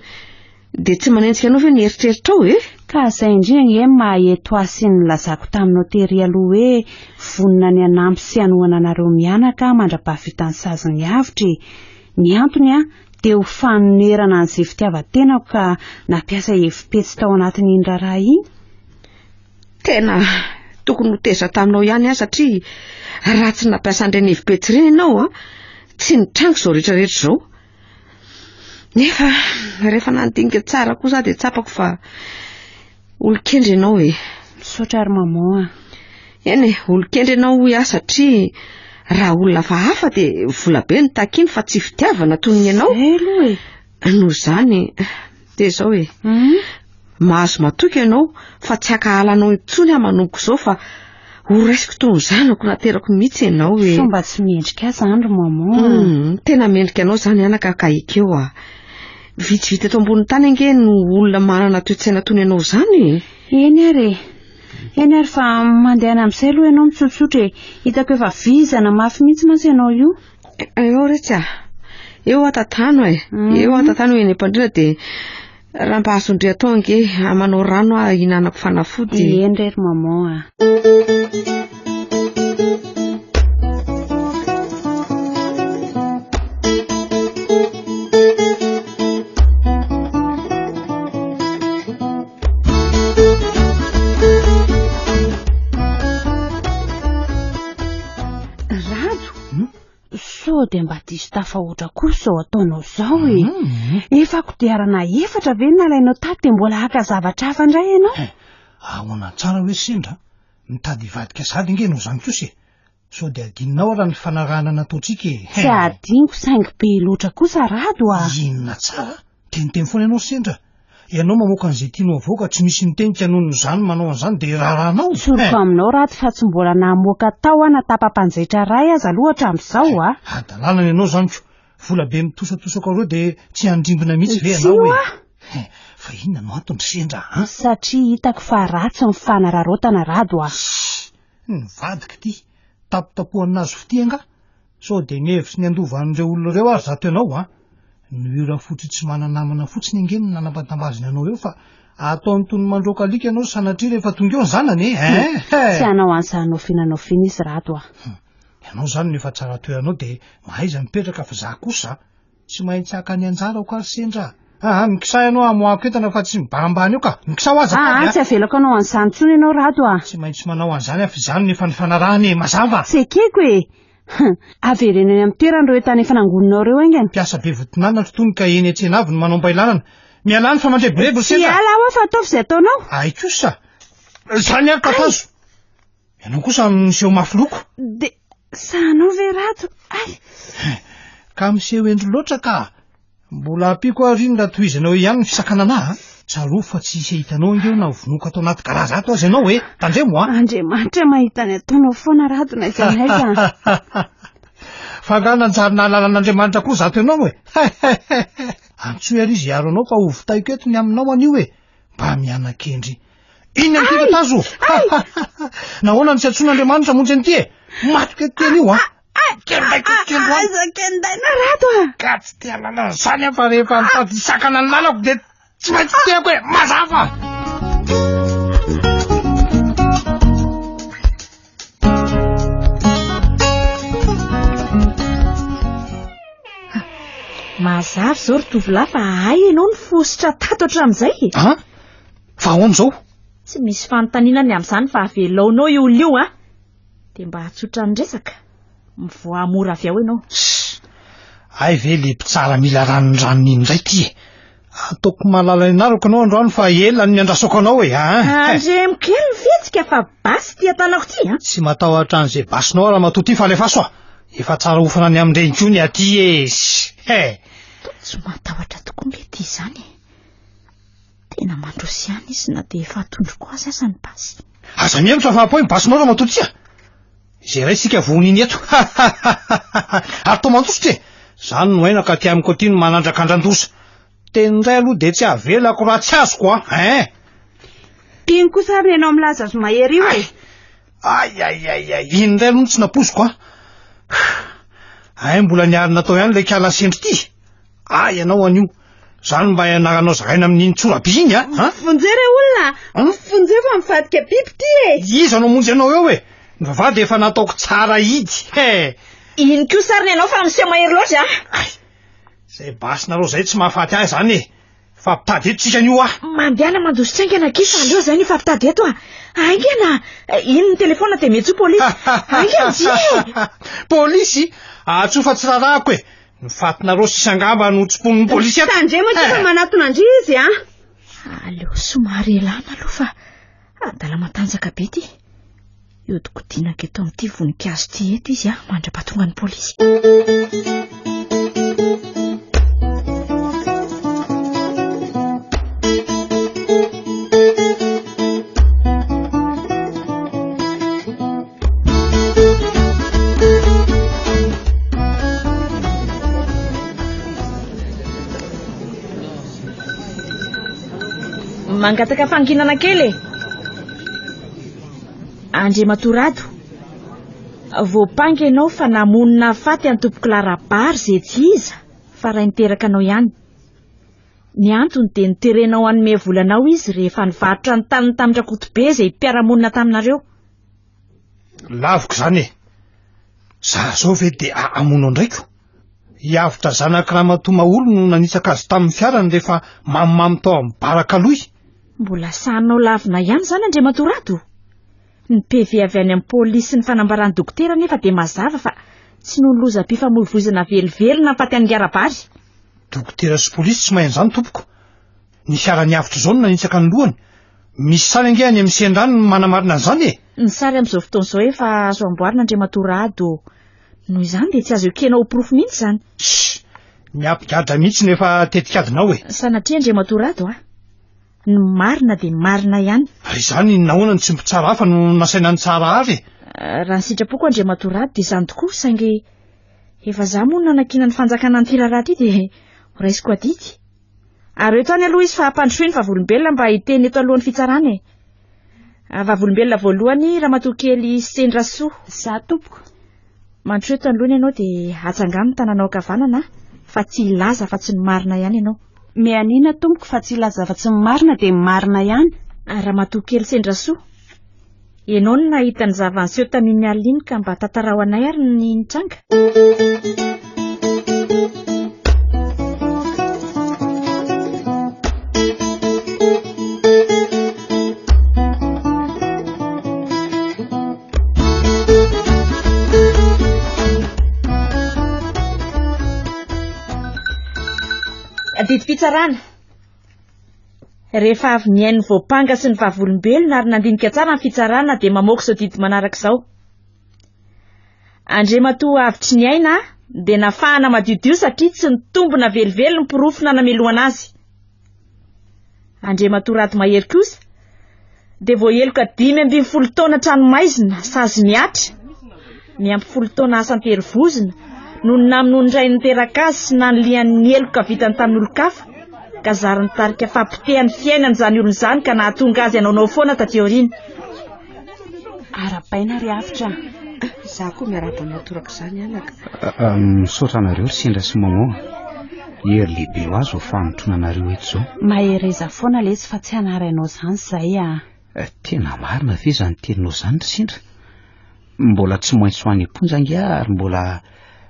dia tsy manenjika anao ve ny eritreritrao e? Ka izay indrindra ange ny maha eto ahy sy ny nilazako taminao tery aloha hoe vonona ny hanampy sy hanohana anareo mianaka mandra-pahavitan'ny sazy ny avotra e! Ny antony an, dia ho fanonerana an'izay fitiavan-tenako ka nampiasa hevi-petsy tao anatin'iny raharaha iny. Tena tokony ho teza taminao ihany aho satria raha tsy nampiasa an'ireny hevi-petsy ireny ianao an, tsy nitranga izao rehetra rehetra izao. Nefa rehefa nandinika tsara koa za dia tsapako fa olon-kendry ianao e. Misaotra ry maman a. Eny e, olon-kendry ianao hoy aho satria raha olona hafahafa dia volabe no takiny fa tsy fitiavana toy ny ianao. Izay aloha e. Noho izany dia izao e. Mhm. Mahazo matoky ianao fa tsy hakahala anao intsony aho manomboka izao fa ho raisiko toy ny zanako naterako mihitsy ianao e. Sao mba tsy mendrika ahy izany ry maman. Mhm, tena mendrika anao izany anaka ka ekeo ah. Vitsivitsy eto ambonin'ny tany ange no olona manana toe-tsaina toy ny anao izany e. Eny ary e. Eny ary fa mandehana amin'izay aloha ianao mitsotsotra e. Hitako efa vizana mafy mihitsy mantsy ianao io. Eo retsy ah. Eo atatano eh. Mhm. Eo atatano eny am-pandriana dia raha mba azondry atao ange amanao ah, rano ah hinanako fanafody. Eny rery maman ah. Sao dia mba diso tafahoatra koa izao ataonao izao e. Hmm. Efa kodiarana efatra ve nalainao tato dia mbola haka zavatra hafa indray ianao? Eh, ahoana tsara hoe sendra? Mitady hivadika sahady ange ianao izany kosa e. Sao dia adinonao raha ny fanarahana nataontsika e. Tsy adiniko saingy be loatra kosa Rado a. Inona tsara? Dia niteny foana ianao sendra ianao mamoaka an'izay tianao havoaka, tsy misy mitenika noho ny zany manao an'izany dia rarahanao Tsoriko eh! aminao Rato fa tsy mbola nahamoaka tao aho na tapa-panjaitra iray aza aloha hatramin'izao a! Hadalana ny anao izany ko! Vola be mitosatosaka ireo dia tsy handrimbina mihitsy ve ianao hoe eh! Fa inona no antony ry sendra a! Satria hitako fa ratsy ny fanararaotana Rado a! Shh! Nivadika ity! Tapotapohan'azy fitia angaha? Sao dia ny hevitry ny handovan'ireo olona ireo ary zato ianao an! Ny hira fototra tsy manana namana fotsiny ange no nanambatambaziny anao eo fa ataony toy ny mandroaka alika ianao sanatria rehefa tonga eo ny zanany e! Hein! Tsy hanao an'izany nofiana nofiana izy rato a! Ianao izany no efa tsara toeranao dia mahaiza mipetraka fa za kosa a! Tsy maintsy haka ny anjarako ary sendra a! Aa mikisà ianao hamoahako entana fa tsy mibahambà an'io ka! Mikisà ho aho azafady a! Aa tsy avelako hanao an'izany intsony ianao Rado a! Tsy maintsy manao an'izany aho fa izany no efa nifanarahana e! Mazava? Tsy ekeko e! Hum! Avereno eny amin'ny toerany ireo entana efa nangoninao ireo haingana! Mpiasa be voton'anona ry Tony ka eny an-tsena avy no manao am-bailanana! Mialà ny famandrebirebo ry sendra a! Tsy hiala aho fa ataovy izay ataonao! Hay kosa! Izany ary tatazo! Ianao kosa miseho mafy loko. De sahanao ve Rado? Ay! Ka miseho hendry loatra ka. Mbola ampiako ary iny raha tohizanao ihany ny fisakanana ahy. Tsarovy fa tsy hisy hitanao angeo na ho vonoiko ato anaty garazy ato aza ianao e. Tandremo a. Andriamanitra mahita ny ataonao foana Rado na iza na iza. Fa nga nanjary nahalala an'Andriamanitra koa zato ianao e. Antsoy ary izy hiaro anao fa hovitaiko eto ny aminao anio e. Mba miana-kendry. Inona ity tatazo? Nahoana no tsy antsoin'Andriamanitra monjy an'ity e? Maty ke teny io an. Kenday ko kendro an. Aza kenday na rato an. Ka tsy te halala an'izany an fa rehefa nitady hisakana ny lalako dia tsy maintsy teako e. Mazava. Mazava izao ry tovolahy fa ahay ianao no fositra tato hatramin'izay e. Ah? Fa ahoana izao? Tsy misy fanontaniana ny amin'izany fa avelaonao io olona io an! Dia mba hatsotra ny resaka, mivoaha mora avy ao ianao. Shh! Hay ve ilay mpitsara mila ranondranony iny indray ity e! Ataoko mahalala ny anarako ianao androany fa ela no niandrasako anao e! Andremo kely ny fihetsika fa basy ity an-tanako ity an! Tsy matahotra an'izay basinao aho ramatoa ity fa alefaso aho! Efa tsara hofana any amin-dreny koa ny aty e! Shh! He! Tsy matahotra tokoa mety izany e! Tena mandroso ihany izy na dia efa atondroko azy aza ny basy. Aza mihevitra fa apoy ny basinao raha matoa tsia. Izay iray sika vohon'iny eto. Ary toa mandositra e! Izany no aina ka aty amiko aty no manandraka andran-doza. Teny indray aloha dia tsy avelako raha tsy azoko a! Hein! Tiany kosa ary ny anao milaza azy mahery io e! Ay, ay, ay, ay, iny indray aloha no tsy napoiziko a! Hein, mbola niarina tao ihany ilay kala sendry ity! Ah ianao anio. Zany mba ianaranao zaraina amin'iny tsorabe iny a. Ah? Vonjeo re olona. Ah? Vonjeo fa mivadika biby ty e. Iza no monjy anao eo e? Ny vavahady efa nataoko tsara hidy. He. Iny koa sariny ianao fa miseho mahery loatra a. Ay. Zay basinareo zay tsy mahafaty ahy zany e. Fa mpitady eto tsika anio a. Mandehana mandositra aingana kisa aleo zay ny fampitady eto a. Aingana. Iny ny telefona dia mihetso polisy. Aingana dia. Polisy? Ahatsofa tsy rarahako e. Ny fatinareo sisa angamba no tsy mponin'ny polisy eto. Tandremo ity fa manatona ndry izy a. Aleo somary elana aloha fa adala matanjaka be ity. Iodikodinako eto amin'ity voninkazo ity eto izy a mandrapatonga ny polisy. mangataka fanginana kely e andriamatoa rado voampanga ianao fa namonina faty antompoko larabary izay tsy iza fa raha niteraka anao ihany ny antony dia niterenao anome volanao izy rehefa nivarotra ny taniny tamin'ny rakotobe izay mpiaramonina taminareo Laviko zany e! Za zao ve de ahamono andraiko? Hiavotra zanak'i Ramatoa Maholy no nanitsaka azy tamin'ny fiarany rehefa mamimamy tao amin'ny baraka loy. Mbola sahinao lavina ihany zany Andriamatoa Rado? Ny PV avy any amin'ny polisy sy ny fanambaran'ny dokotera anefa dia mazava fa tsy noho ny lozam-pifamoivoizana velively nahafaty an'i Ngarabary. Dokotera sy polisy tsy mahay an'izany tompoko. Ny fiara niavotry izao no nanitsaka ny lohany. Misy sary ange any amin'ny sendran no manamarina an'izany e! Ny sary amin'izao fotoana izao efa azo amboarina Andriamatoa Rado. Noho izany dia tsy azo ekena ho porofo mihitsy izany. Shh! Miabigadra mihitsy no efa tetikadinao e! Sanatria Andriamatoa Rado a! Ny marina dia marina ihany. Raha izany nahoana no tsy mpitsara hafa no nasaina nitsara ary e! Raha ny sitrapoko Andriamatoa Rado dia izany tokoa saingy efa izaho moa no nanakiana ny fanjakana an'ity raharaha ity dia ho raisiko adidy. Ary eto any aloha izy fa hampandrosoy ny vavolombelona mba hiteny eto alohan'ny fitsarana e. Ah, vavolombelona voalohany ramatoa kely Sendrasoa. Za tompoko. Mandrosoy eto anoloana ianao dia atsangano ny tananao ankavanana ah, fa tsy hilaza afa-tsy ny marina ihany ianao. Mianiana tompoko fa tsy hilaza afa-tsy ny marina dia ny marina ihany. Ah, ramatoa kely Sendrasoa. Ianao no nahita ny zava-niseho tamin'ny alina iny ka mba tantarao anay ary ny nitranga. Didim-pitsarana. Rehefa avy nihaino ny voampanga sy ny vavolombelona ary nandinika tsara ny fitsarana dia mamoaka izao didy manaraka izao. Andriamatoa avitry ny aina dia nafahana madiodio satria tsy nitombina velively ny porofo nanamelohana azy. Andriamatoa Rado Mahery kosa dia voaheloka dimy ambin'ny folo taona tranomaizina sazy miatra ny ampy folo taona asa an-terivozona no namonoan'ny ray niteraka azy sy nanilian'ny heloka vitany tamin'olon-kafa ka zary nitarika fahapotehan'ny fiainan'izany olona izany ka nahatonga azy hanaonao foana taty aoriana Arabaina ry afitra. Za koa miarahaba anao toraka izany anaka. Misaotra anareo ry sendra sy mamoa. Hery lehibe ho azy ho fanotrona anareo eto izao. Mahereza foana lesy fa tsy hanarainao izany izay ah. Eh, tena marina ve izany teninao izany ry sendra? Mbola tsy maintsy ho any am-ponja ange ary mbola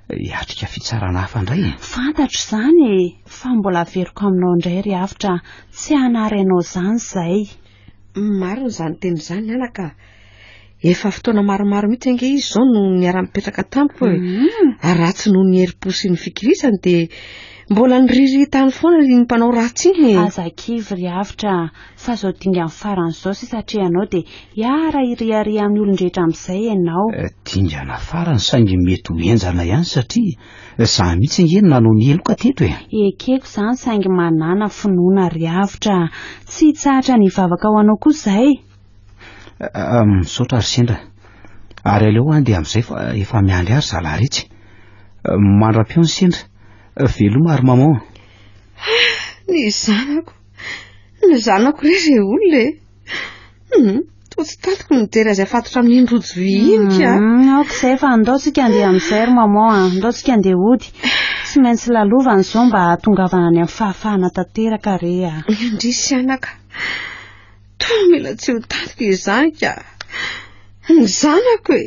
hiatrika fitsarana hafa indray. Eh. Fantatro izany e, fa mbola averiko aminao indray ry afitra, tsy hanarainao izany izay. Marina izany teny izany anaka ah. Efa fotoana maromaro mihitsy ange izy izao no niara-mipetraka tamiko e. Mm. Ary raha tsy noho ny herim-po sy ny fikirizany dia mbola niriritany foana ny mpanao ratsy iny e. Aza kivy ry Avotra fa izao dingany farany izao sisa atrehanao dia hiara hiriaria amin'ny olon-drehetra amin'izay ianao. Eh, dingana farany saingy mety ho henjana ihany satria Za mihitsy ange no nanao ny heloka teto e! Ekeko zany saingy manàna finoana ry avotra. Tsy tsahatra ny hivavaka ho anao koa zay. Misaotra ry sendra. Ary aleo an dia amin'izay fa efa miandry ahy ry zalahy retsy. Mandra-peo ny sendra. Veloma ry maman. Ny zanako. Ny zanako re re olona e. Hmm. Toa tsy tatiko ny mijery azy afatotra amin'iny rojo vy iny ka. Hmm, ok izay fa ndao tsika andeha amin'izay ry maman a. Ndao tsika andeha hody. Tsy maintsy lalovana izao mba hahatongavana any amin'ny fahafahana tanteraka re a. Indrisy anaka. Toa mila tsy ho tatiko izany ka. Ny zanako e.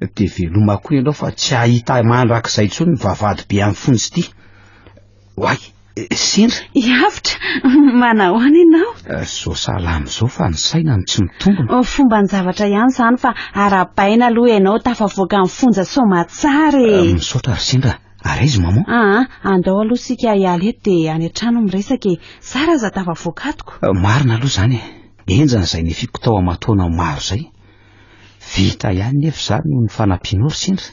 de veloma koa ianao fa tsy ahita mandrakizay intsony ny vavahady be amin'ny fonjy ity. Oay, sendra. Hiavotra, manahoana ianao? Eh, zao salama zao fa ny saina no tsy mitombona. Oh, fomba ny zavatra ihany izany fa arabaina aloha ianao tafavoaka amin'ny fonja soamatsara e. Eh, misaotra ry sendra. Ary aiza maman? Ah, ah, andao aloha sika hiala eto dia any an-trano miresaka e. Zara aza tafavoaka atoko. Eh, marina aloha izany e. Enjana izay nefiko tao amatoana maro izay. Vita ihany nefa za noho ny fanampianao ry sendra.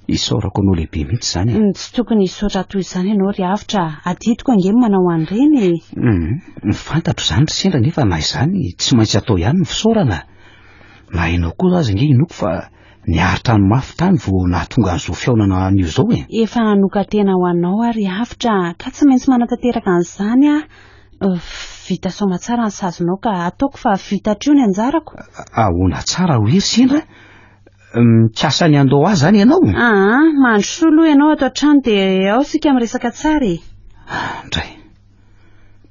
Isaorako anao lehibe mihitsy izany a. Tsy tokony hisaotra toy izany ianao ry Avotra a. Adidiko ange ny manao an'ireny e. Humm, fantatro izany ry sendra nefa na izany tsy maintsy atao ihany ny fisaorana. Na ianao koa aza ange inoako fa niaritra ny mafy tany vao nahatonga an'izao fihaonana anio izao e. Efa nanoka-tena ho anao aho ry Avotra a, ka tsy maintsy manatanteraka an'izany aho. Vita soma tsara ny sazinao ka ataoko fa vita hatreo ny anjarako. Ahoana tsara ry hery sendra mikasa ny handao ahy zany ianao? Aa, mandrosoa aloha ianao ato an-trano dia ao isika miresaka tsara e. Andray,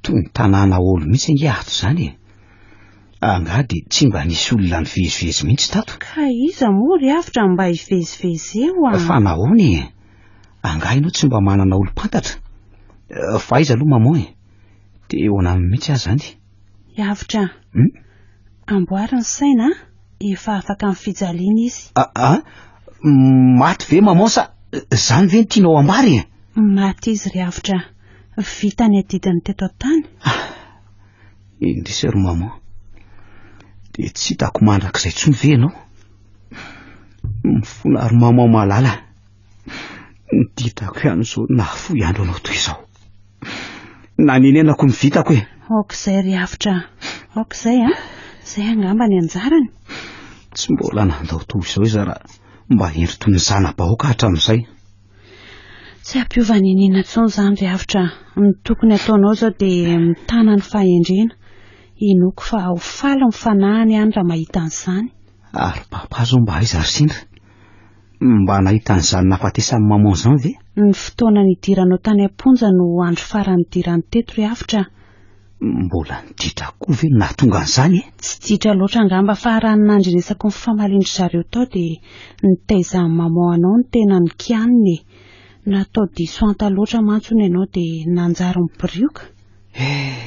toy ny tanàna olo mihitsy ange ato izany e. Angaha dia tsy mba nisy olona nivezivezy mihitsy tato? Ka iza moa ry avotra no mba hivezivezy eo an? Fa nahoana e? Angaha ianao tsy mba manana olom-pantatra? Eh, fa aiza aloha maman e? Eh? Te hoana aminy mihitsy aho zany. Yavitra. Hmm? Amboary ny saina, efa afaka amin'ny fijaliana izy. Ah, ah, maty ve maman sa zany ve ny tianao ambary e? Maty izy ry Yavitra. Vita ny adidiny teto an-tany. Ah, indrisy ry maman. Dia tsy hitako mandrakizay intsony ve ianao? Mifona ry maman malala. Ny didrako ihany izao nahafoy andro anao toy izao. Nanenenako ny vitako e. Aok'izay ry Avotra. Aok'izay a. Ah. Izay angamba ny anjarany. Tsy mbola nandao toy izao izy raha mba endry toy ny zana-bahoaka hatramin'izay. Tsy hampiova ny nina intsony izany ry Avotra. Ny tokony ataonao izao dia mitana ny fahendrena. Inoako fa ho faly ny fanahiny ihany raha mahita an'izany. Ary papa izao mba aiza ry sendra? Mba nahita an'izany nahafatesan'i maman izany ve? Ny fotoana nidiranao tany am-ponja no andro farany nidirany teto ry Avotra a! Mbola niditra koa ve no nahatonga an'izany e? Tsy ditra loatra angamba fa raha ny nandrenesako ny famalian-dry zareo tao dia nitaizan'i maman anao ny tenan'ny kianina e! Natao diso anta loatra mantsy hono ianao dia nanjary mibirioka? Eh!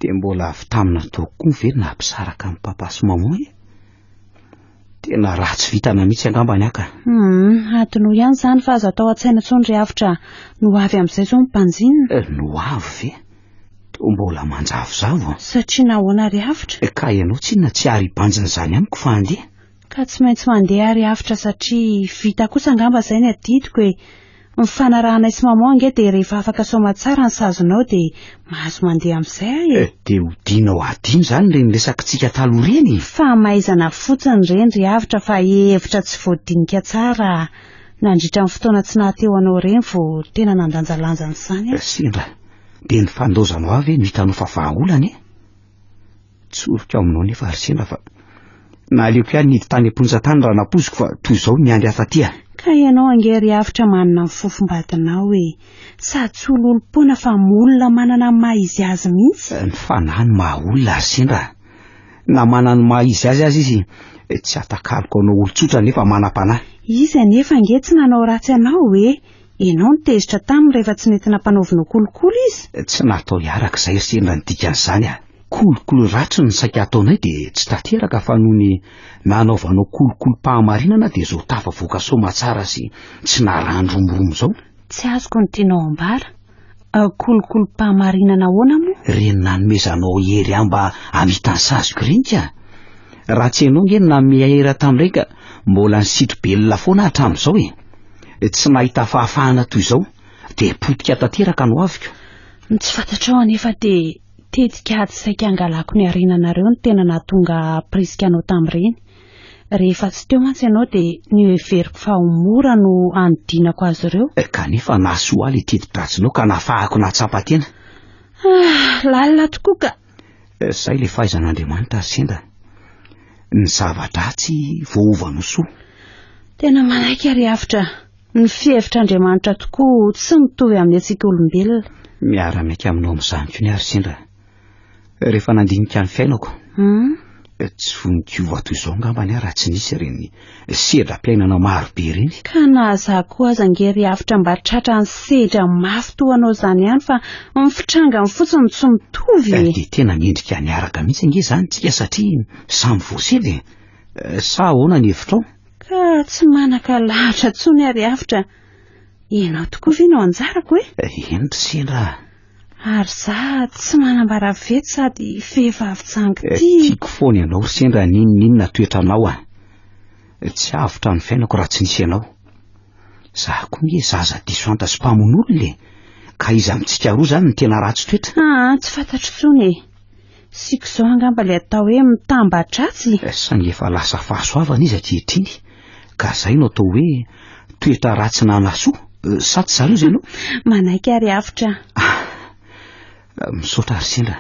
Dia mbola avy taminao tao koa ve no naha mpisaraka an'i papa sy maman e? Tena ratsy vitana mihitsy angamba ny aka. Hum, adinao ihany izany fa aza atao an-tsaina intsony ry avotra. No avy amin'izay izao ny mpanjinina. Eh, no avy ve? Toa mbola manjavozavo. Satria nahoana ry avotra? Eh, ka ianao tsinona tsy ary hibanjina izany amiko fa handeha? Ka tsy maintsy mandeha ry avotra satria vita kosa angamba izay ny adidiko e. Ny fanarahanay sy maman ange dia rehefa afaka saoma tsara ny sazonao dia mahazo mandeha amin'izay aho e! Dia odianao adino izany ireny resakitsika taloha ireny e! Famaizana fotsiny ireny ry Avotra fa hevitra tsy voadinika tsara nandritra ny fotoana tsy naha teo anao ireny vao tena nandanjalanja an'izany aho. Sendra dia ny fandaozanao ahy ve no hitanao fa vahaolana e! Tsoriko aminao nefa ry sena fa naleoko ihany nidy tany am-ponja tany raha nampoiziko fa toy izao ny andry hafa aty a! Ka ianao ange ry Avotra manana ny fofom-badinao e! Sady tsy ololom-poana fa olona manana ny maha izy azy mihitsy! Ny fanahy no maha olona ry sendra a! Na manana ny maha izy azy aza izy tsy atakaloko hanao olon-tsotra nefa manam-panahy! Izy anefa ange tsy nanao ratsy anao e! Ianao no tezitra taminy rehefa tsy nety nampanaovinao kolikoly izy? Tsy natao hiaraka izahay ry sendra ny dikan'izany a! Kolikoly ratsy no saika ataonay dia tsy tanteraka fa noho ny nanaovanao kolikolim-pahamarinana dia izao tafavoaka soamatsara sy tsy narahan-dromoromo izao. Tsy azoko ny tianao ambara. Kolikolim-pahamarinana ahoana moa? Reny nanomezanao hery ahy mba hamita ny saziko reny ka! Raha tsy ianao nge no nanome ahy hery aho tamin'ireny ka mbola nisitro belona foana aho hatramin'izao e! Tsy nahita fahafahana toy izao dia potika tanteraka ny hoaviko. Ny tsy fantatrao anefa dia tetika tsy saika hangalako ny harenanareo no tena nahatonga ahy hampirisika anao tamin'ireny. Rehefa tsy teo mantsy ianao dia noheveriko fa ho mora no hanodinako azy ireo. Kanefa nahasoa ahy ilay teti-dratsinao ka nafahako nahatsapa tena. Ah, lalina tokoa ka! Izay ilay fahaizan'Andriamanitra ry sendra. Ny zava-dratsy voaova anao soa. Tena manaiky ry Avotra. Ny fihevitr'Andriamanitra tokoa tsy mitovy amin'ny antsika olombelona. Miara-miaiky aminao amin'izany koa ny ahy ry sendra. rehefa nandinika ny fiainako. Hmm? Eh, tsy voninkiova toy izao ngambany aho raha tsy nisy ireny sedram-piainana maro be ireny. Ka na za koa aza nge ry hafitra mba tratra ny sedra mafy toa anao izany ihany fa ny fitrangany fotsiny tsy mitovy. Eh, dia tena mendrika niaraka mihitsy nge izany tsika satria samy voasedra e. Eh, sa ahoana ny hevitrao? Ka tsy manaka lahatra tsony ary hafitra. Ianao tokoa ve no anjarako e? Eh, eny ry sendra. Ary za tsy manambara vety sady vehivavy jangy eh, ty. Tiako foana ianao ry sendra n'inon'inona toetranao an. Eh. Tsy avotra ny fiainako raha tsy nisy ianao. Za koa nge zaza diso anta sy mpamono olona e. Ka iza amintsika roa zany ny tena ratsy toetra? Ah, tsy fantatro tsony e. Tsiky izao angamba ilay atao hoe mitambatratsy e! Saingy efa lasa fahasoavana izy ankehitriny ka izay no atao hoe toetra ratsy nanasoa, sa tsy izany hozy ianao? Manaiky ary avotra. Ah, misaotra ry sendra.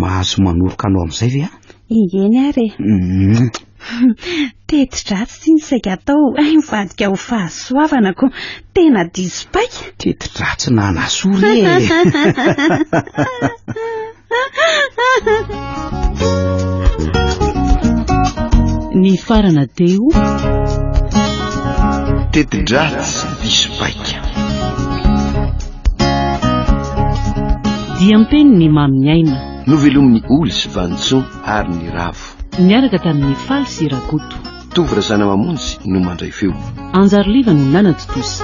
Mahazo manoroka anao amin'izay ve aho? Engeny ary e. Uhm. Teti-dratsy ity ny saika atao hay mivadika ho fahasoavana ko tena diso paika. Teti-dratsy na anasoa re Ny farana teo Teti-dratsy diso paika Diam-peno ny mamin'ny aina Novelomin'ny oly sy vanintsoa ary ny ravo Niaraka tamin'ny Faly sy Rakoto. Tovo Razanamamonjy no mandray feo. Anjary Liva no nanatontosa.